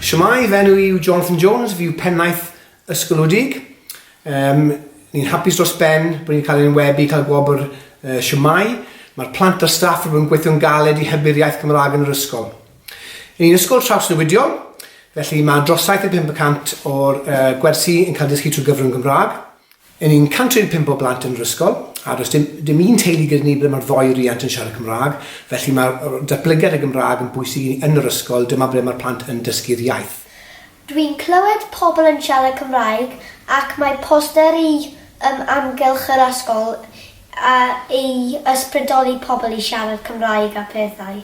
Shwmae, fy enw i yw Jonathan Jones, fi yw pennaeth ysgolwdig. Um, ni'n hapus dros ben bod ni'n cael ein webu, cael gwobr uh, Shwmae. Mae'r plant a'r staff wedi bod yn gweithio'n galed i hybu'r iaith Gymraeg yn yr ysgol. Yn un ysgol trawsnewidiol, felly mae dros 75% o'r uh, gwersi yn cael dysgu trwy gyfrwng Gymraeg. Yn ni'n 105 o blant yn yr ysgol, a does dim dim un teulu gyda ni ble mae'r ddou riant yn siarad Cymraeg, felly mae'r yy datblygiad y Gymraeg yn bwysig i ni yn yr ysgol, dyma ble mae'r plant yn dysgu'r iaith. Dwi'n clywed pobl yn siarad Cymraeg ac mae posteri ym amgylch yr ysgol a i ysbrydoli pobl i siarad Cymraeg a phethau.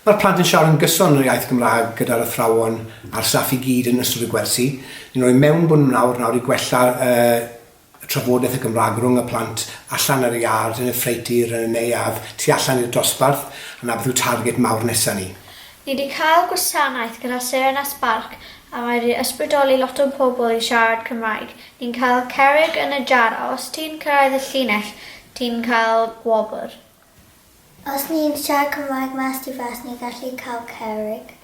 Mae'r plant yn siarad yn gyson yn yr iaith Gymraeg gyda'r athrawon a'r staff i gyd yn ystod y gwersi. Ni'n rhoi mewnbwn mnawr nawr i gwella y trafodaeth y Gymraeg rhwng y plant allan ar y iard, yn y ffreutur, yn y neuadd, tu allan i'r dosbarth, a 'na beth yw target mawr nesa ni. Ni 'di cael gwasanaeth gyda Serena Spark a mae 'di ysbrydoli lot o pobl i siarad Cymraeg. Ni'n cael cerrig yn y jar a os ti'n cyrraedd y llinell ti'n cael gwobr. Os ni'n siarad Cymraeg mas tu fas ni'n gallu cael cerrig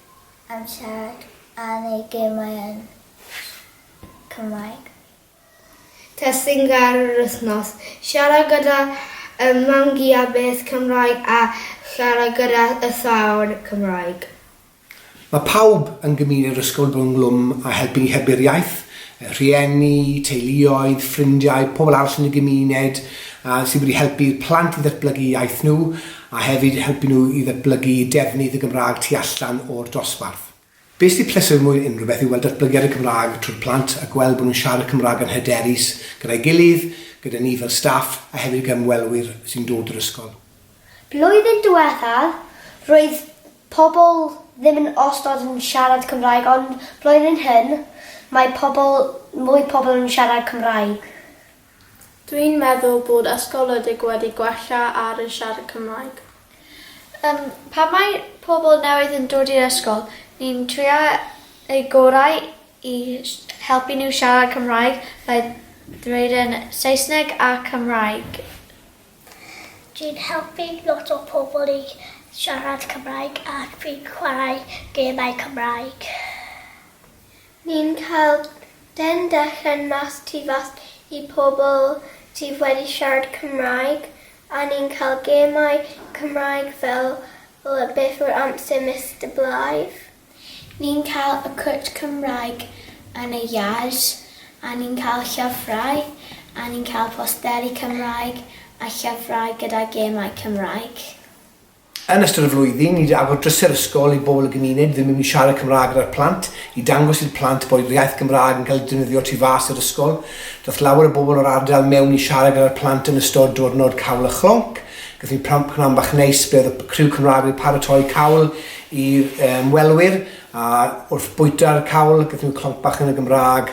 am siarad a neud gemau yn Cymraeg. Testun gair yr wythnos. Siarad gyda ym mam-gu a beth Cymraeg a siarad gyda y thâwr Cymraeg. Mae pawb yn gymuned yr ysgol fod ynghlwm â helpu ni hybu'r iaith, y rhieni, teuluoedd, ffrindiau, pobl arall yn y gymuned yy sydd wedi helpu'r plant i ddatblygu iaith nhw a hefyd helpu nhw i ddatblygu defnydd y Gymraeg tu allan o'r dosbarth. Be' sydd pleser mwy na unrhyw beth yw weld datblygiad y Cymraeg trwy'r plant a gweld bod nhw'n siarad y Cymraeg yn hyderus gyda'i gilydd, gyda ni fel staff a hefyd ag ymwelwyr sy'n dod i'r ysgol. Blwyddyn diwethaf, roedd pobl ddim yn ostod yn siarad Cymraeg ond blwyddyn hyn, mae pobl, mwy pobl yn siarad Cymraeg. Dwi'n meddwl bod ysgoledig wedi gwella ar y siarad Cymraeg. Yym, pan mae pobl newydd yn dod i'r ysgol, ni'n trio eu gorau i helpu nhw siarad Cymraeg, fe ddweud yn Saesneg a Cymraeg. Dwi'n helpu lot o pobl i siarad Cymraeg ac fi'n chwarae gemau Cymraeg. Ni'n cael den dechen mas tu fas i pobl sydd wedi siarad Cymraeg a ni'n cael gemau Cymraeg fel beth yw'r amser Mister Blythe? Ni'n cael y cwrt Cymraeg yn y iard, a ni'n cael llyfrau, a ni'n cael posteri Cymraeg a llyfrau gyda gemau Cymraeg. Yn ystod y flwyddyn, ni 'di agor drysau'r ysgol i bobl y gymuned ddim yn mynd i siarad Cymraeg gyda'r plant, i dangos i'r plant bod yr iaith Gymraeg yn cael ei defnyddio tu fas i'r ysgol. Daeth lawer o bobl o'r ardal mewn i siarad gyda'r plant yn ystod diwrnod Cawl a Chlonc. Gaethon ni pnawn bach neis, fe oedd y criw Cymraeg wedi paratoi cawl I ymwelwyr, a wrth bwyta'r cawl, gaethon nhw clonc bach yn y Gymraeg.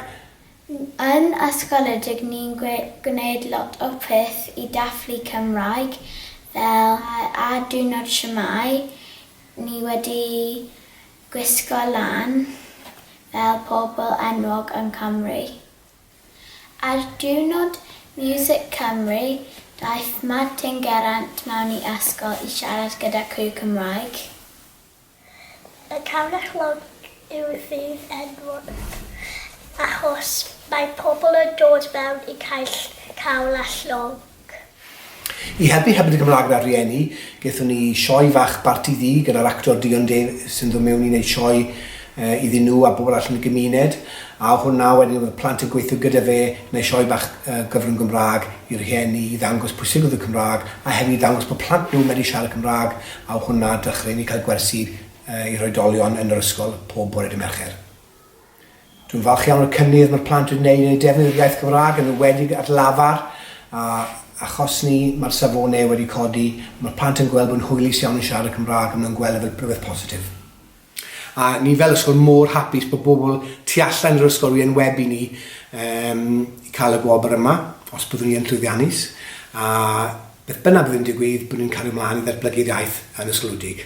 Yn ysgoledig ni'n gwneud lot o peth i dathlu Cymraeg fel ar diwrnod shwmae ni wedi gwisgo lan fel pobl enwog yn Cymru. Ar Diwrnod Music Cymru, daeth Martin Geraint mewn i ysgol i siarad gyda criw Cymraeg. Y Canghellog yw ddydd enwog achos mae pobl yn dod mewn i caill cawl a llong. I helpu hefyd y Gymraeg na'r rhieni, gaethon ni sioe fach Barti Ddu gyda'r actor Dion Day sy'n dod mewn i wneud sioe iddyn nhw a bobl allan yn y gymuned, a o hwnna wedyn oedd y plant yn gweithio gyda fe yn wneud sioe bach gyfrwng Gymraeg i rhieni i ddangos pwysigrwydd y Cymraeg a hefyd i ddangos bod plant nhw yn medru siarad Cymraeg a o hwnna dechreuon ni cael gwersi i'r oedolion yn yr ysgol pob bore dydd Mercher. Dwi'n falch iawn o'r cynnydd mae'r plant wedi gwneud yn eu defnydd o'r iaith Gymraeg yn enwedig at lafar a achos ni mae'r safonau wedi codi a mae'r plant yn gweld bod yn hwylus iawn yn siarad y Cymraeg a maen nhw'n gweld e fel rhywbeth positif. A ni fel ysgol mor hapus bod bobl tu allan i'r ysgol wedi enwebu ni um, i cael y gwobr yma, os byddwn ni yn llwyddiannus, a beth bynnag bydd yn digwydd, byddwn ni'n cario ymlaen i ddatblygu'r iaith yn ysgolwdig.